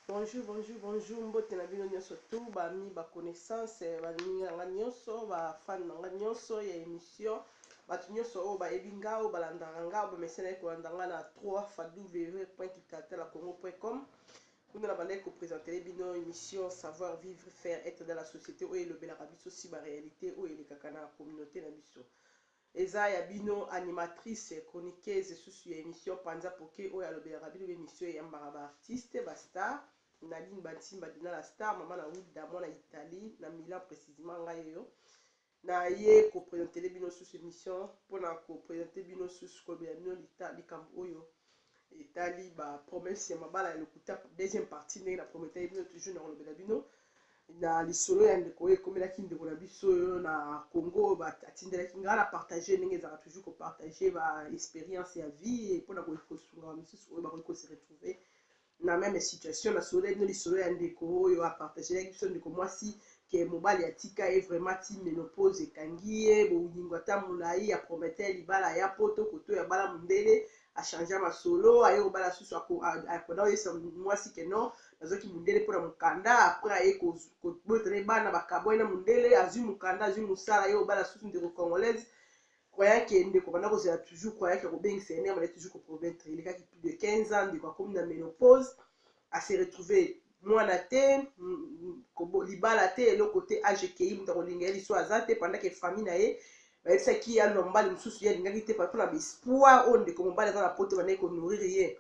Bonjour bonjour bonjour mbote na bino nionso tout ba amis ba connaissances ba ninga nga nionso ba fan na nga nionso ya emission batu nionso oyo bayebi nga oyo balandaka nga oyo bamesenaki kolanda nga na 3 www.kitaltalacongo.com kuna na bandaki kopresentele bino emission savoir vivre faire être dans la société oyo elobelaka biso si ba réalité oyo elekaka na communauté na biso Eza ya bino animatrice chroniqueuse susu ya emission panza poke oyo alobelaka bino ba emission eyambaka ba artiste ba star Nadine Bansimba Dinana star maman na wilda mwana Italie na Milan precisement ngai oyo na ye ko presentele bino susu emission pona ko presente bino susu kolobela bino likambo oyo etali ba promesse ya mabala ya lokuta deuxième partie ndenge na prometaki bino toujours na kolobela bino na lisolo ya ndeko oyo ekomelaki ndeko na biso oyo na congo oyo atindelaki ngai na partage ndenge ezalaka toujours kopartage ba expérience ya vie mpo na kosunga bamosusu oyo bakoki kose retrouve na meme situation nasololaki bino lisolo ya ndeko oyo apartagelaki biso ndeko mwasi ke mobali atika ye vraiment ti menopause ekangi ye bolingo ata molai apromete libala ya poto koto ya bala mondele a changea masolo aye kobala susu ako apona oyebisa mwasi ke non nazwaki mundele mpo na mokanda apres aye kobota na ye bana bakabwani na mundele azwi mokanda azwi mosala aye kobala susu ndeko congolaise croyant ke ndeko banda kozela toujours croyant ke akobengisa ye nde abanda toujours kopromettre elekaki plus de 15 ans ndeko akomi na menopause ase retrouve Mwana te, libala te, eloko te, age ekeyi, moto akolinga ye liso aza te, pendant que famille na ye bayebisaki ye alua mobali mosusu, ye alingaki te, mpona ba espoir oyo ndeko mobali aza na poto ebandaki ko nourrir ye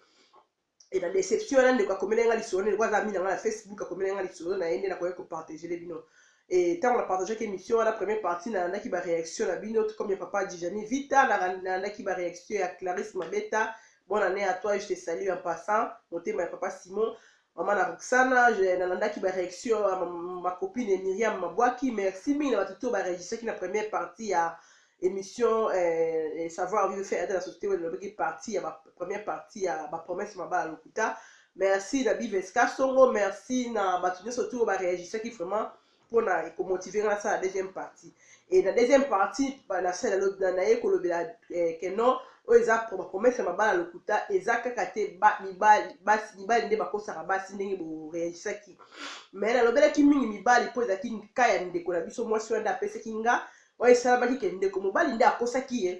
et na deception wana ndeko akomelaki nga lisolo ndeko aza ami na nga na facebook akomelaki nga lisolo na ye nde nakoki kopartagele bino e ntango na partageaki émission wana première partie nalandaki baréaction na bino tout comme ya papa dijani vita nalandaki baréaction ya clarisse mabeta Bonne année à toi, je te salue en passant. Motema ya papa Simon. Maman na Roxana, je nalandaki ba réaction ya ma, ma copine Myriam Mabwaki. Merci mingi na bato to ba registraki na première partie ya émission eh, eh, savoir vivre fait ata na société oyo elobaki partie ya ba, première partie ya ba promesse mabala lokuta. Merci na Biveska Songo, merci na bato nyonso to ba reagisaki vraiment pona eko motive nga nasala deuxième partie et na deuxième partie banasala naye kolobela eh, que non oyo eza bapromese ya mabala lokuta eza kaka te mibali nde bakosaka basi ndenge boreagisaki mais nalobelaki mingi mibali mpo ezalaki ka ya ndeko na biso mwasi wana nde apesaki nga oyo esalamaki ke ndeko mobali nde akosaki ye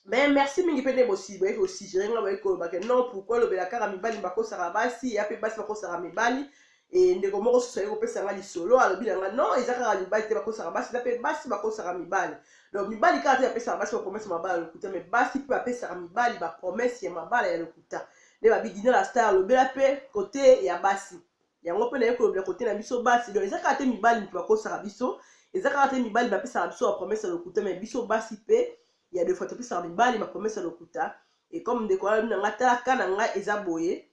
mais merci mingi mpe nde bosi boyeki kosigere nga boyeki koloba ke non pourkoi olobela kaka mibali bakosaka basi ya mpe basi bakosaka mibali e ndeko moko susu ayei kopesa nga lisolo alobi na nga non eza kaka mibali te bakosaka basi eza mpe basi bakosaka mibali donc mibali kaka te bapesaka basi bapromese mabala ya lokuta mais basi mpe bapesaka mibali bapromese ya mabala ya lokuta nde babi dina la star alobela mpe kote ya basi yango mpe naye kolobela kote na biso basi donc eza kaka te mibali moto bakosaka biso eza kaka te mibali bapesaka biso bapromese ya lokuta me biso basi mpe ya defois topesaka mibali bapromese ya lokuta e comme ndeko alobi na ngai tala ka na ngai eza boye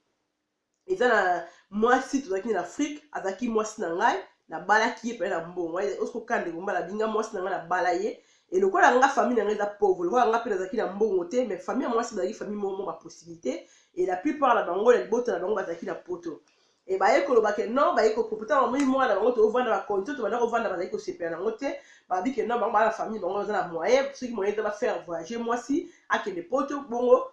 eza na mwasi tozalaki na afrike azalaki mwasi na ngai nabalaki ye pele na mbongo osikokana ndeko mbala binga mwasi na ngai nabala ye Et lokola nga famille na nga eza pauvre, lokola nga pe nazalaki na mbongo te, mais famille ya mwasi bazalaki famille moko ba possibilité et la plupart na bango na libota na bango bazalaki na poto. Et baye koloba ke non, baye ko propota bango moni mwana na bango tovanda ba conditions tobanda kovanda bazali kosepela na yango te. Babi ke non, bango bana famille bango baza na moyen, soki moyen eza ba faire voyager mwasi akende poto bongo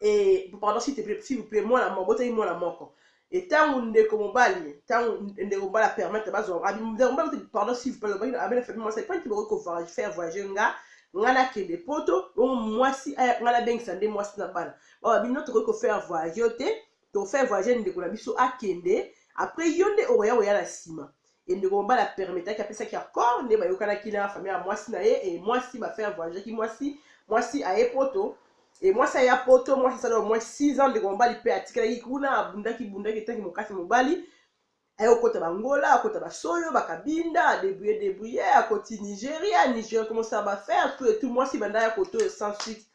et pardon s'il te plaît s'il vous plaît mwana moko botaki mwana moko et ntango ndeko mobali ntango ndeko mobali apermettre bazwa abi ndeko mobali pardon s'il vous plaît alobaki abe na famille mwasi epanti bokoki ko faire voyager nga nga nakende poto bongo mwasi aya nga nabengisa nde mwasi na bana bawa bino tokoki ko faire voyager yo te to fait voyage ndeko na biso akende après yo nde okoya koya na nsima e ndeko mobali apermetaki apesaki accord nde bayokanaki na famille ya mwasi na ye e mwasi bafaire voyageaki mwasi mwasi aye poto e mwasi aya poto mwasi asala omoi 6 ans ndeko mobali mpe atikalaki kuna abundaki bundaki etangi mokasi mobali aye kokota bangola akota basoyo bakabinda adebrouye debrouye akoti nigeria nigeria komosala bafaire tout etout mwasi banda ya koto sans suite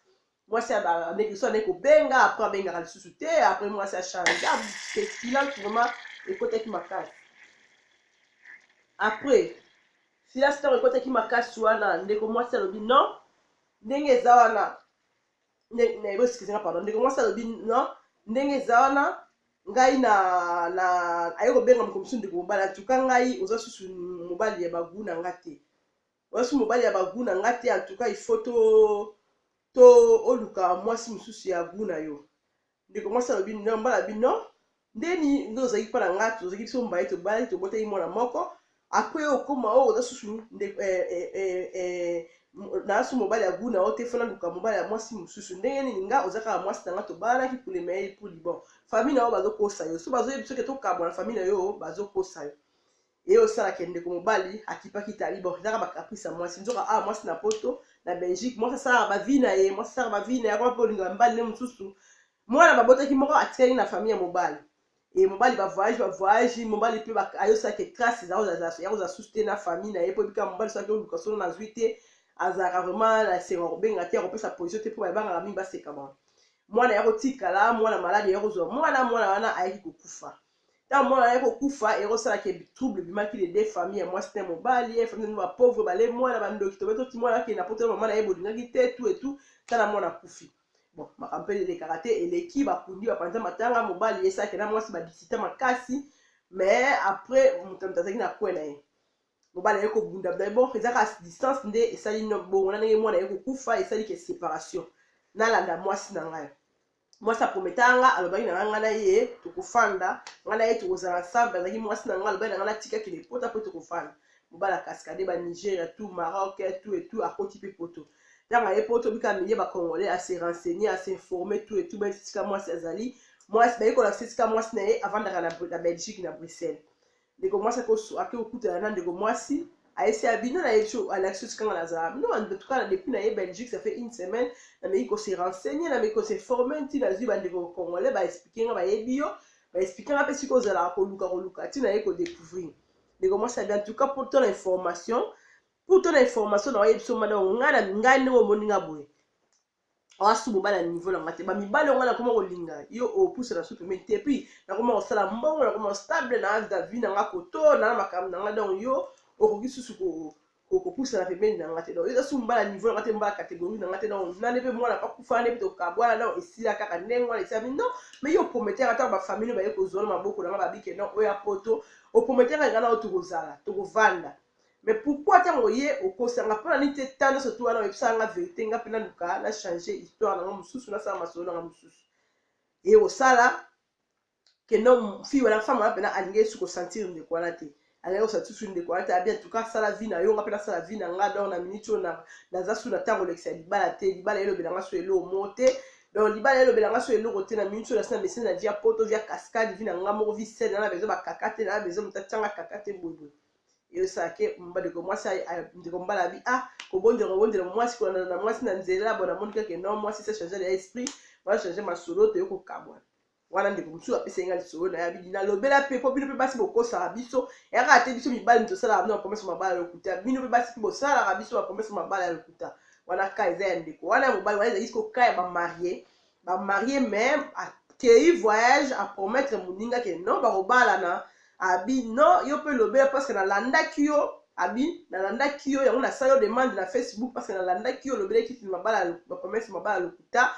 mwasi abandeki so andeki kobenga apres abengaka lisusu te apres mwasi achange silence vraiment ekotaki makasi apres silence ntango ekotaki makasi wana ndeko mwasi alobi non ndenge eza wana boskize nga pardon ndeko mwasi alobi non ndenge eza wana ngai na na aye kobenga mokomisu ndeko mobali atuka ngai oza susu mobali ya bagu na nga te Mwasi mobali ya ba gout na nga te en tout cas il faut to to oluka mwasi mosusu ya gout na yo ndeko mwasi alobi non mbala bi non ndeni nde ozalaki mpo na nga tozalaki biso mbaye tobalaki tobotaki mwana moko apres okoma oyo oza susu ndeko eh, eh, eh, eh, naa so mobali ya gout na yo te fona luka mobali ya mwasi mosusu ndenge nini nga oza kaka mwasi na nga tobalanaki pour le meilleur pour libon famille na yo bazokosa yo so bazoyebi soki tokabwana famille na yo bazokosa yo eye osalaka ya ndeko mobali akipaki tali bon ezaka bacaprice ya mwasi nzoka awa ah, mwasi na poto na belgique mwasi asalaka bavi na ye mwasi asalaka bavi na ye akoma mpe olingo ya mibali nde mosusu mwana babotaki moko atikaki na famille ya mobali e mobali bavoyage bavoyage mobali mpe ayosalaka trace yakozala susu te na famille na ye mpo ebika mobali soki oluka solo nazwi te azalaka vraiment na esengo kobenga te akopesa position te mpo babangaka mingi baseka bango mwana ya kotikala mwana maladi ya kozwa mwana mwana wana ayaki kokufa ntango mwana naye kokufa ekosala ke trouble ebimaki de deux famille ya mwasi na mobali ye famille nini bapauvre bale mwana bandoki tobe toti mwana akende na poto ya mama na ye bolingaki te tu etu tala mwana akufi bon makambo mpe elekaka te eleki bakundi bapanza matanga mobali ye sake na mwasi badisita makasi mais après moto moto azalaki na kwe na ye mobali aye kobunda bunda bon ezaka distance nde esali bongo na ndenge mwana aye kokufa esali ke séparation nalanda mwasi na ngai mwasi aprometaka nga alobaki na nga nga na ye tokofanda nga na ye tokozala ensemble azalaki mwasi na nga alobaki na nga natika kende mpota mpo tokofanda mobala kaskade ba nigeria tout maroc tout et tout akoti mpe poto ntango aye poto bika milie bacongolais ase renseigner ase informer tout et tout bayebi esika mwasi azali mwasi bayekolakisa esika mwasi na ye avandaka na belgique na bruxelles ndeko mwasi ake kokutana na ndeko mwasi aesi ya bino na yebi alakisi esika nga nazala bino antuka na depuis na ye belgique ça fait une semaine nameki kose renseigne nameki kose forme nti nazwi bandeko congolais baexplike nga bayebi yo baexplike nga mpe sika ozalaka koluka koluka nti naye kodecouvrir ndeko mwasi abi antuka mpo to na information mpo to na information na wayebi so mada ngai nde omoni nga boye awa su mobali ya niveau na nga te bamibali yango nakoma kolinga yo opusana su pembeni te puis nakoma kosala mbongo nakoma stable na age davie na nga koto na na makambo na nga donc yo okoki susu kopusana pembeni na nga te donc eza su mbala niveau na nga te mbala catégorie na nga te donc nane mpe mwana pakufa nde mpe tokabwana donc esila kaka ndenge wana esilami non mais yo oprometaka ntango bafamili baye kozwa na maboko na nga babike non oya poto oprometaka nga na yo tokozala tokovanda mais pourquoi tango oye okosanga mpona nini te temps nyonso tu wana oyebisaka nga verité nga mpe naluka na change histoire na nga mosusu nasala masolo na nga mosusu eye kosala ke no fille wana femme wana mpena alingi esu kosentir ndeko wana te alingi kosentir su ndeko wana te abia tuka asala vi na yo nga mpe nasala vi na nga donc na minute oyo naza su na ntango olekisa ya libala te libala elobela nga su eloo moo te donc libala elobela nga su eloko te na minute oyo nasi na mesene na vi ya poto vi ya cascade vi na nga moko vi sene na na bezo bakaka te na na bezo moto atyanga kaka te boyeboye esake ndeko mwasi ndeko mobali abi a ah, kobondela kobondela mwasi kolanda na mwasi na nzela bona moni kake no mwasi se changer ya esprit wana changer masolo toye kokabwana wana ndeko mosusu apesa nga lisolo na yabi nalobela mpe mpo bino mpe basi bokosaka biso eyaka te biso mibali tosalaka bino bapromese mabala ya lokuta bino mpe basi mpe bosalaka biso bapromese mabala ya lokuta wana ka eza ya ndeko wana ya mobali wana ezalaki koka ya bamarie ba marie mais akeyi voyage a promettre moninga ke non bakobalana abi non yo mpe lobela parce que nalandaki yo abi nalandaki yo yango nasali yo demande na facebook parce que nalandaki yo olobelaki mabala bapromese mabala lokuta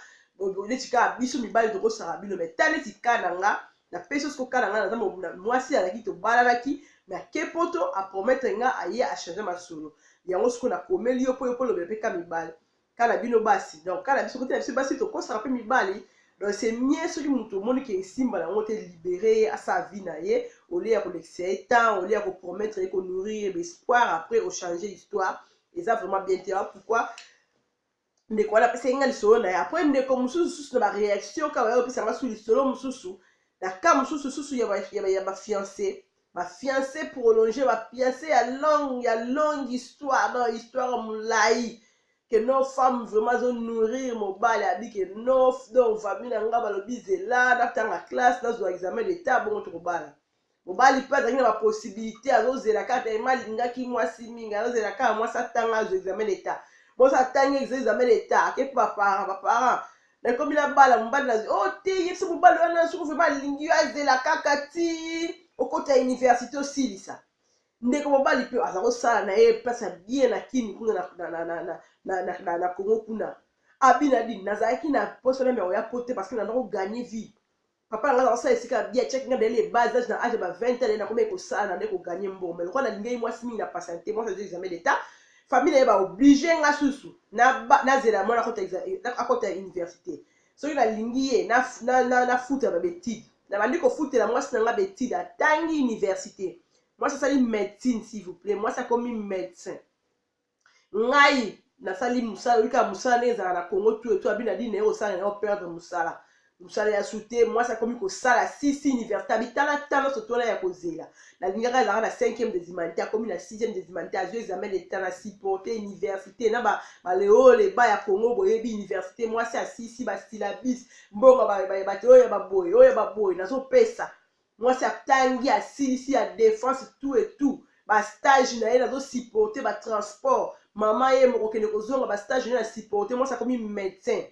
neti kaka biso mibali tokosaka bino mai ta neti ka na nga napesi yo siko ka na nga naza mwasi alaki tobalalaki me ake poto apromettre nga aye achange masolo yango siko nakomeli yo mpo yo mpo olobela mpe ka mibali kala bino basi donc kala biso kotela biso basi tokosaka mpe mibali donc c'est mieux soki moto omoni ke esimba nango te libere ye asala vie na ye olie ya kolekisa ye temps olie ya kopromettre ye konourrir ye baespoir après ochange histoire eza vraiment bien te pourquoi ndeko wana apesaki nga lisolo na ye après ndeko mosusu susu na bareaction kaka oyo opesanga su lisolo mosusu na cas mosusu susu ya bafiance ba fiancé prolonge ba fiancé ya longue ya longue histoire donc histoire mulayi que no femme vraiment azo nourrir mobali abi que no donc famille na nga balobi zela natanga classe nazwa examen d'etat bongo tokobala mobali mpe azalaki na bapossibilité azozela kaka telema alingaki mwasi mingi azozela kaka mwasi atanga azwa examen d'etat mwasi atangi exe examen d'etat ake mpe baparent baparent nakomi nabala mobali na o oh, te yebisa mobali wana soki vraimen alingi yo azela kaka ti okota université osilisa ndeko mobali mpe aza kosala na ye place ya bien na kini kuna na congo kuna abina dini nazalaki na posa meme ya koya po te parce que nanda koganye vie papa na ngai nakosala esika ya bia tiaki ngai ndele ya bas age na age ya ba 20 ans na komeki kosala na nde koganye mbongo mai lokola nalingaki mwasi mingi na patiente mwasi azwi examen d'etat famille na ye baoblige nga susu nazela mwana akota ya université soki nalingi ye nafutela babetide nabandi kofutela mwasi na nga betide atangi université mwasi asali médecine s'il vous plaît mwasi akomi médecin ngai nasali mosala oyoka mosala ndenge ezalaka na congo tu etu abi na dine naye kosala nayo perdre mosala mosala ya sute mwasi akomi kosala sisi université abi tala tala nyonso twana ya kozela nalingaka ezalaka na 5e des humanités akomi na 6e des humanités azwi examen d'etat na supporte université na baleole ba ya congo boyebi université mwasi asisi basilabis mbongo bato oyo ya baboye oyo ya baboye nazopesa mwasi atangi asilisi ya defense tout et tout ba stage na ye nazo supporte ba transport mama ye mokokende kozonga ba stage na ye na supporte mwasi akomi médecin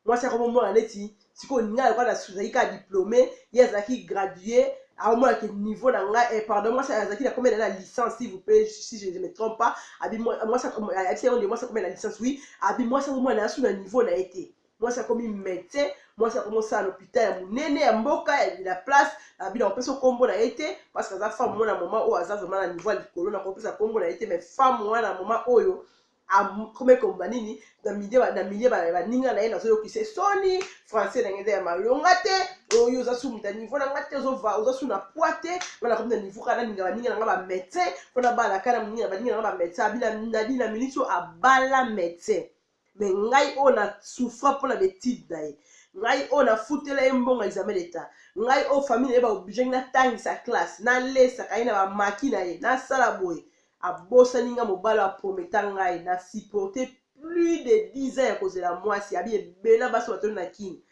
mwasi akomi omona neti sikoyo ngai lokola nazalaki kaka diplome ye azalaki gradue aomona ke niveau na ngai eh, pardon mwasi azalaki na komela na licence si vous plaît si je ne me trompe pas abi mwasi ayebisa yango nde mwasi akomela licence oui abi mwasi akomona na yasu na niveau na ye te mwasi akomi medecin mwasi akomi osala lopital ya monene ya mboka ya la place abi na kopesa nkombo na ye te parceke aza femme mwana moma oyo aza vrema na niveau ya likolo na kopesa nkombo na ye te mais femme mwana moma oyo akomi koloba nini na milie baninga na ye nazoyokisa soni français na ngai eza ya malonga te oyo oza su moto ya niveau na ngai te oza su na poi te wana akomi na niveau kaka nalinga baninga na ngai bamédecin mpona balaka na moninga na baninga na ngai bamédecin abina nadi na miniti oyo abala médecin mais ngai oyo na souffra mpo na betide na ye ngai oyo nafutela ye mbongo ya examen d'etat ngai oyo famille na ye baobligengi natangisa classe nalesaka ye na bamaki na ye nasala boye abosani ngai mobali aprometa ngai na supporte plus de 10 ans ya kozela mwasi abi ebela basi batoni na kini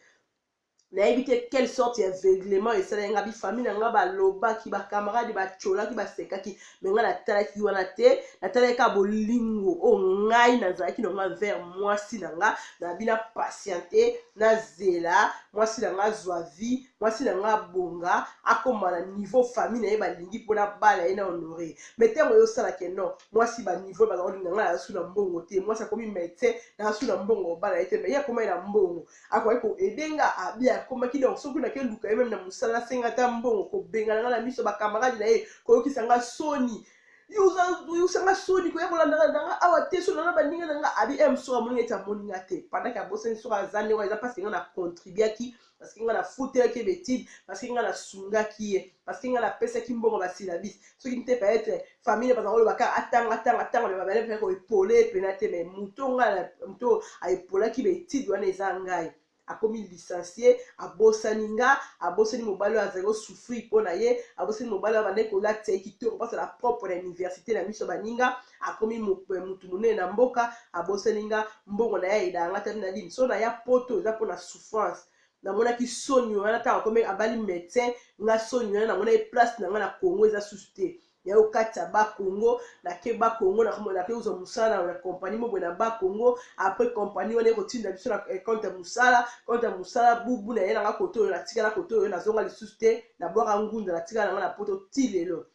nayebi te quelle sorte ya aveuglement esalaki ngai bifami na ngai balobaki bacamarade bacolaki basekaki me ngai natalaki wana te natalaki kaka bolingo oyo oh, ngai nazalaki na ngai vers mwasi na ngai nabi na patiente nazela mwasi na ngai azwa vie mwasi na ngai abonga akoma na niveau famille na ye balingi mpona bala ye na honore me ntango ye osalaka no mwasi baniveau bazakolinga ngai nazasu na mbongo te mwasi akomi medecin nazasu na mbongo obala ye te me ye akomai na mbongo akoki ko aider nga abi akomaki donc soki nake luka ye meme na musala asenga ata mbongo kobengana nga na miso ba camarade na ye koyokisa nga soni yoyokisa nga soni koya kolandaka na nga awa te soni na baninga na nga abi m eh, soki amoni nga ete amoni nga te pendant ke abosani soki aza ndenge eza parce que nga na contribuaki parce que nga na futelaki ye betide parce que nga na sungaki ye parce que nga napesaki mbongo basilabisi soki ntepa etre famille baza koloba kaka atanga atanga atanga me babale mpe koepole epena te me moto ngai moto aepolaki baetide wana eza ngai akomi licencie abosani nga abosani mobali oyo azali kosouffrir mpo na ye abosani mobali oyo abandaki kolatisa ye kitoko mpasa na propre na université na miso baninga akomi motu eh, monene na mboka abosani nga mbongo na ye ayedaka nga tami na lini so na ya poto eza mpo na souffrance namonaki soni wana ntango akomi abali medecin nga soni wana namonaki place na nga na congo eza susu te ya okati ya bakongo nake bakongo nake kozwa mosala na kompani moko na bakongo apres kompani wana ekotinda biso na eh, konte ya mosala konte ya mosala bubu na ye nanga koto oyo natikala koto oyo nazonga lisusu te nabwaka ngunda natikala nanga na poto ti lelo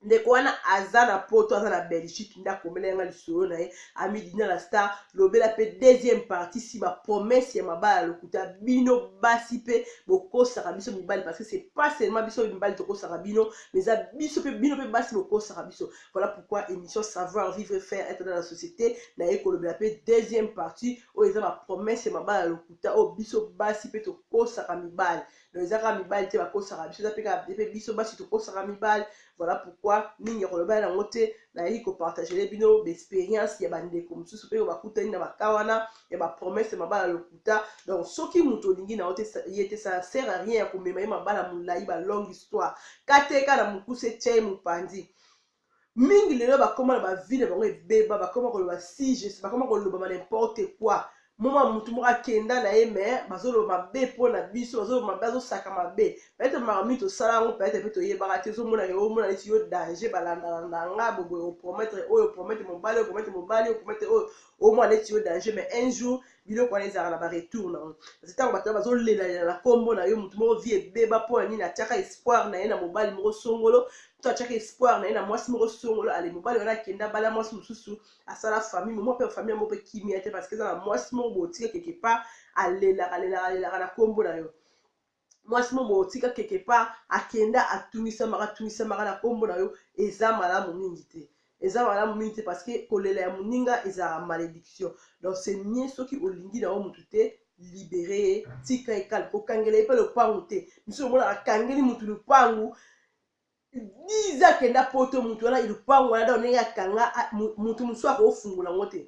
ndeko wana aza na poto aza na belgique nde akomela yanga lisolo na ye amidina la star lobela mpe deuxième partie si bapromesse ya mabala lokuta bino basi mpe bokosaka biso mibali parce que c'est pas seulement biso mibali tokosaka bino mais eza biso mpe bino mpe basi bokosaka biso voilà pourquoi émission savoir vivre faire être dans la société naye kolobela mpe deuxième partie oyo eza bapromesse ya mabala lokuta oyo biso basi mpe tokosaka mibali donc eza kaka mibali te bakosaka biso eza mpe kaka mpe biso basi tokosaka mibali voilà pourquoi mingi ya koloba yango te nayaki kopartagele bino baexperience ya bandeko mosusu mpe bakutani na baka wana ya bapromese ya mabala lokuta donc soki moto olingi na yo te ye te ça sert à rien ya komema ye mabala molai balongue histoire kateka na mokuse tia ye mopanzi mingi lelo bakoma na bavi na bango ebeba bakoma koloba siges bakoma koloba ba n'importe quoi moma motu moko akenda na ye me bazoloba mabe mpo na biso bazoloba mabe azosaka mabe pete makambo nini tosala yango pete mpe toyebaka te ozomona ke omona neti yo danger balandalanda nga boboye oprometre oyo oprometre mobali oprometre mobali oprometre oyo omona neti yo danger me un jour biloko wana ezalaka na baretour na yango kasi ntango bato wana bazolelalela na nkombo na yo motu moko vie ebeba mpo na nini atiaka espoir na ye na mobali moko songolo to atiaka espoir na ye na mwasi moko songolo ale mobali wana akenda bala mwasi mosusu asala famille momo mpe famille yango mpe kimia te parce que eza na mwasi moko botika quelque part alelaka alelaka alelaka na nkombo na yo mwasi mo boye otika quelque part akenda atungisamaka atungisamaka na nkombo na yo eza malamu mingi te eza malamu mingi te parce que kolela ya moninga ezalaka malédiction donc c'est mieux soki olingi na yo motu te libere ye tika ye kale kokangela ye mpe lopangu te misu omona akangeli motu lopangu 10 ans kenda poto mutu wana lupangu wana donc ndenge akanga mutu mosusu akofungola yango te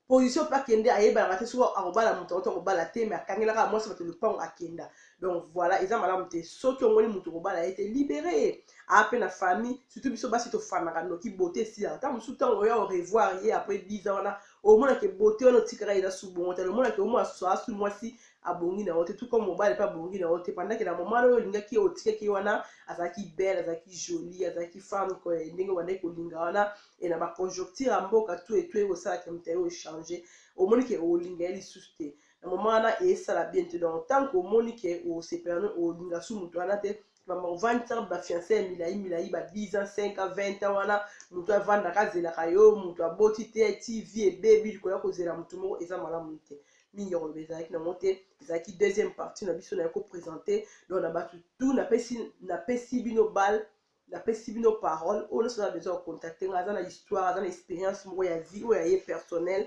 position mpe akende ayebanaka te soki akobala moto yango to akobala te mais akangelaka mwasi bato lupangu akenda donc voilà eza malamu te soki omoni moto okobala ye te libere ye aa mpe na famille surtout biso basi tofanaka noki bote esila ntango mosusu ntango oya orevoir ye après 10 ans wana omonake bote wana otikaka eza su bongo te omonake omwana susu asu mwasi abongi na yo te tout comme mobali pe abongi na yo te pendant que na moment na oyo olingaki ye otikaki ye wana azalaki belle azalaki jolie azalaki femme que ndenge obandaki kolinga wana et na ba conjoncture ya mboka tout et tout eye kosala ke moto ya yo echange omoni ke olinga ye lisusu te na moment wana esala bien te donc tant que omoni ke osepela no olinga su moto wana te mama ovandisaka bafiance ya milai milai ba 10 ans 5 ans 20 ans wana moto avandaka azelaka yo moto aboti te tv ebebi likolo ya kozela moto moko eza malamu te mingi ya koloba ezalaki nango te ezalaki deuxième partie na biso naye kopresente donc na bato tout napesi napesi bino bale napesi bino parole oyo nyonso aza besoin ya contacte nga aza na histoire aza na expérience moko ya vie oyo ya ye personnel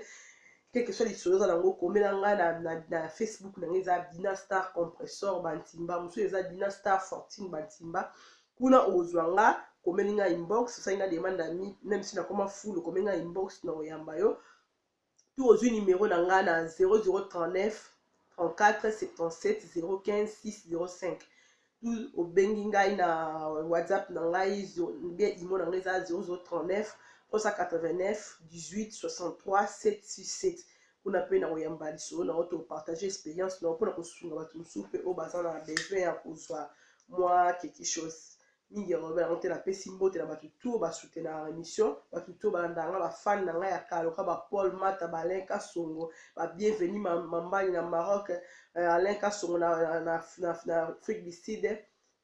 quelque soit lisolo oza nango komela nga na, na, na facebook na ngai eza dina star compressor bantimba mosusu eza dina star fortune bantimba kuna okozwa nga komeli nga inbox osali nga demande ya mi meme si nakoma fulu komeli nga inbox na koyamba yo to ozwi nimero na nga na 0039 34 77 015 605 obengi ngai na whatsapp na ngai nde imo na ngai eza 0039 389 18 63 767 kuna mpe na koyamba lisolo na yo topartage experience na yo mpona kosunga bato mosusu mpe oyo baza na besoin ya kozwa mwa quelque chose mingi yango yango te napesi mbote na bato to basoutenaka émission bato to balandaka nga bafane na ngai ya kaloka bapole mata balen kasongo babienveni mambani na maroc eh, alain kasongo na, na, na, na, na afrique du sud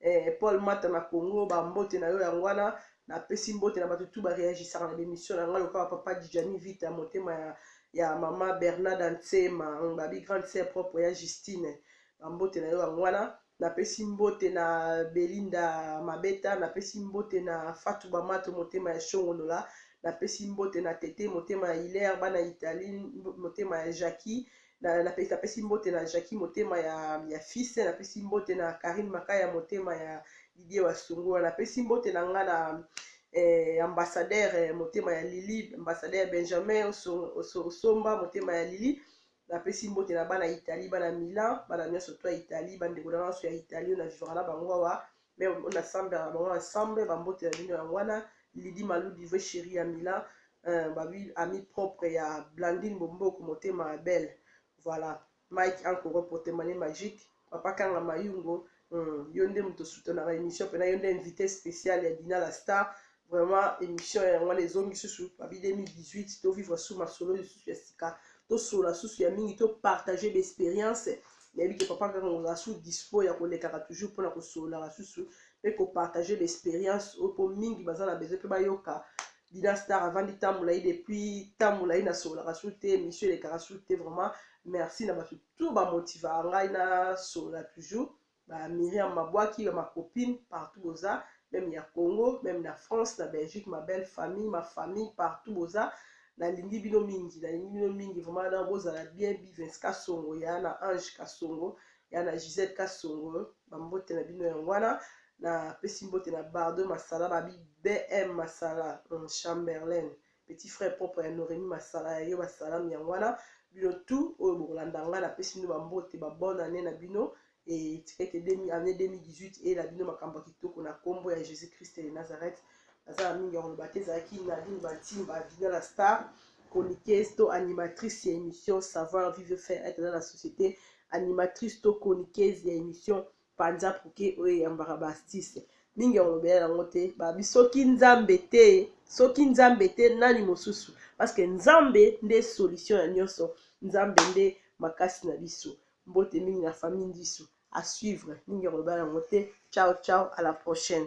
eh, paul mata na congo bambote na yo yango wana napesi mbote na bato tu bareagisaka na bemission na ngai lokola papa dijani vita motema ya, ya mama bernarda nsema babi grande sœur propre ya justine bambote na yo yango wana napesi mbote na belinda mabeta napesi mbote na fatu bamato motema ya shongonola napesi mbote na tete motema ya hilaire bana italie motema ya jacquie Na, na, napesi mbote na Jackie motema ya, ya fils, napesi mbote na Karine Makaya motema ya Didier Wasungura, napesi mbote na nga na eh, ambassadeur eh, motema ya Lili, ambassadeur Benjamin Oso- Oso- Osomba motema ya Lili, napesi mbote na bana Italie, bana Milan, bana nyonso to ya Italie, bandeko na nga nyonso ya Italie oyo na vivaka na bango awa, mais on a sambe ya bango ya sambe ba mbote ya bino yango wana Lydie Malou Dive chérie ya Mila euh, ba bi ami propre ya Blandine Bomboko motema ya belle voilà Mike Ankoro Potemane Magique papa Kanga Mayungo hmm, yo nde moto soutenaka émission pena yo nde invité spécial ya Dina la star Vraiment emission ya ngwana ezongi susu papi 2018 to vivre sous masolo lisusu ya sika to sola susu ya mingi to partager d'expérience nayebi ke papa kaka ngozala su dispo ya kolekaka toujours mpona kosololaka susu mpe kopartage baexpérience oyo mpo mingi baza na besoin mpe bayoka dina star avandi tambola ye depuis tambola ye nasololaka su te émission elekaka su te vraiment merci na bato tout bamotivaka ngai nasolola toujours ba Miriam Mabwaki, ba ma copine partout boza, meme ya Congo, meme na France, na Belgique, ma belle famille, ma famille partout boza, nalingi bino mingi, nalingi bino mingi vraiment, na bozala bien, Bivens Kasongo ya na Ange Kasongo, ya na Gisette Kasongo, ba mbote na bino yango wana, na pesi mbote na Bardo Masala, ba BM Masala, hum, Chamberlain, petit frère propre ya Noremi masala ya yo basalam yango wana bino tout oyo bokolanda ngai napesi bino bambote ba bonne année na bino et tika ete année 2018 eyela bino makambo ya kitoko na nkombo ya jésus christ de nazareth naza na mingi ya koloba te ezalaki nadine bantimba dina la star chroniqueuse to animatrice ya émission savoir vivre faire être dans la société animatrice to chroniqueuse ya émission panza puke oyo eyambaka ba astuce mingi ya kolobela yango te babi soki nzambe te soki nzambe te nani mosusu parceke nzambe nde solution ya nyonso nzambe nde makasi na biso mbote mingi na famille ndisu à suivre mingi ya kolobela yango te ciao ciao à la prochaine